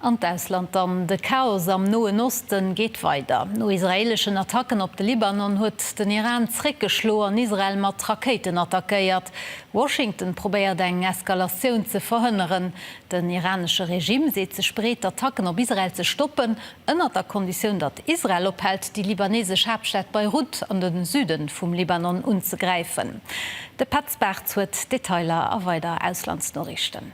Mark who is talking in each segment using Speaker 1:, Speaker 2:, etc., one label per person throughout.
Speaker 1: An d'Ausland dann, De Chaos am Noen Oste geet weider. No israeeleschen Attacken op de Libanon huet den Iran zréckgeschloen an Israel mat Rakéiten attackéiert. Washington probéiert eng Eskalatioun ze verhënneren. Den iranesche Regime seet sech bereet, d'Attacken op Israel ze stoppen, ënnert der Konditioun, datt Israel ophält, déi libaneesesch Haaptstad Beirut an de Süde vum Libanon unzegräifen. De Petz Bartz huet d'Detailer a weider Auslandsnoriichten.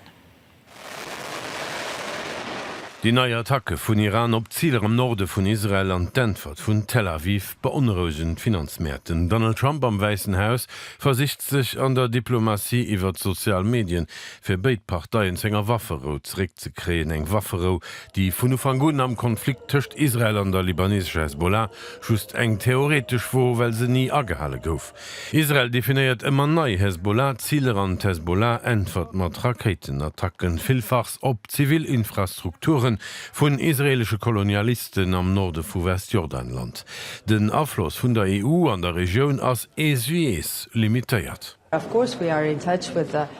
Speaker 2: Déi nei Attacke vun Iran op Ziler am Norde vun Israel an d'Äntwert vun Tel Aviv beonrouegen d'Finanzmäert. Den Donald Trump am Wäissen Haus versicht sech an der Diplomatie iwwert d'sozial Medien, fir béid Parteien zu enger Wafferou zeréckzekréien. Eng Wafferou, déi vun Ufank un am Konflikt tëscht Israel an der libanesescher Hezbollah just eng theoretesch wor, well se ni agehale gouf. Israel definéiert ëmmer nei Hezbollah-Ziler an d'Hezbollah äntwert mat Rakéitenattacken, villfachs op zivil Infrastrukture vun israeelesche Kolonialisten am Norde vu Westjordanland. Den Afloss vun der EU an der Regioun ass eeswéiees limitéiert.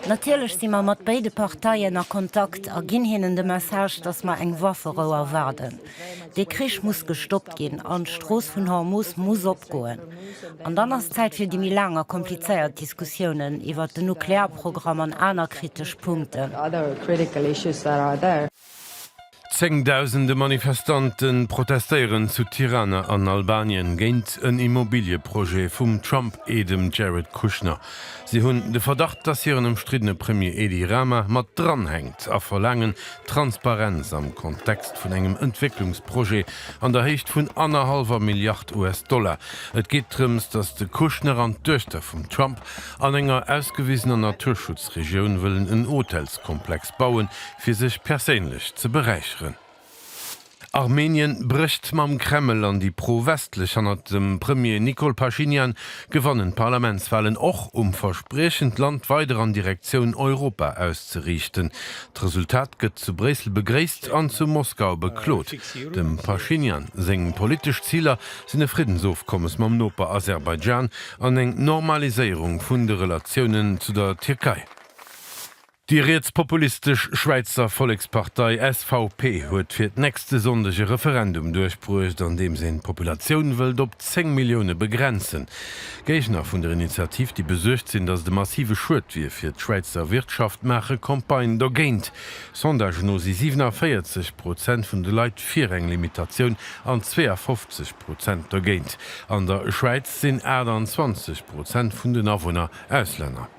Speaker 3: Natierlech si mer mat béide Parteien a Kontakt a ginn hinnen de Message, datt mer eng Wafferou erwaarden. Dee Krich muss gestoppt ginn an d'Strooss vun Hormus muss opgoen. An dann ass d'Zäit fir déi méi laang a komplizéiert Diskussiounen iwwert den Nuklearprogramm an aner kritesch Punkten.
Speaker 2: Zéngdausende Manifestante protestéieren zu Tirana an Albanien géint en Immobilieprojet vum Trump-Aidem Jared Kushner. Si hunn de Verdacht, dass hiren ëmstriddene Premier Edi Rama mat dranhänkt a verlaangen, Transparenz am Kontext vun engem Entwécklungsprojet an der Héicht vun annerhallwer Milliard US-Dollar. Et geet drëms, datt de Kushner an d'Duechter vum Trump an enger ausgewisener Naturschutzregioun wëllen en Hotelskomplex bauen, fir sech perséinlech ze beräicheren. Armenien brécht mam Kreml an déi pro-westlech hannert dem Premier Nikol Pashinyan gewannen d'Parlamentswalen och um Verspriechen d'Land weider an Direktioun Europa auszeriichten. D'Resultat gëtt zu Bréissel begréisst an zu Moskau beklot. Dem Pashinyan seng politesch Ziler sinn e Friddensofkommes mam Noper Aserbaidschan an eng Normaliséierung vun de Relatiounen zu der Tierkei. Déi rietspopulistesch Schwäizer Vollekspartei SVP huet fir d'nächste Sonndeg e Referendum duerchbruecht, an deem se d'Populatioun wëllt op 10 Millioune begrenzen. Géigner vun der Initiativ, déi besuergt sinn, datt et e massive Schued wier fir d'Schwäizer Wirtschaft, maache Campagne dogéint. Sondagen no si 47 Prozent vun de Leit fir eng Limitatioun an 52 Prozent dogéint. An der Schwäiz sinn 28 Prozent vun den Awunner Auslänner.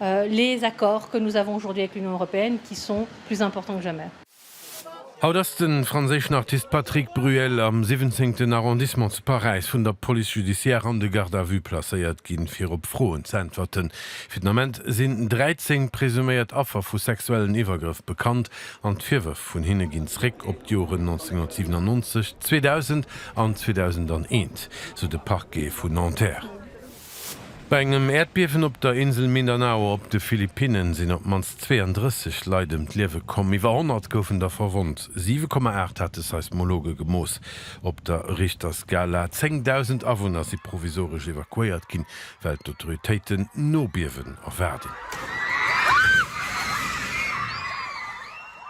Speaker 4: les accords que nous avons aujourd'hui avec l'Union européenne qui sont plus importants que jamais. Haut
Speaker 2: ass de franséischen Artist Patrick Bruel am siwwenzéngten Arrondissement zu Paräis vun der Police judiciaire an de Garde à vue placéiert ginn, fir op Froen z'äntwerten. Fir den Ament sinn 13 presuméiert Affer vu sexuellen Iwwergrëff bekannt an d'Virwërf vun hinne ginn zréck op d'Joren 1997, 2000 an 2001, sou de Parquet vu Nanterre. Bei engem Äerdbiewen op der Insel Mindanao op de Philippinne sinn op d'mannst 32 Leit ëm d'Liewe komm, iwwer 100 goufen der verwonnt. 7,8 hat de Seismologe gemooss op der Richterskala. Zéngdausend Awunner si provisoresch evakuéiert ginn, well d'Autoritéiten Nobiewen erwaarden.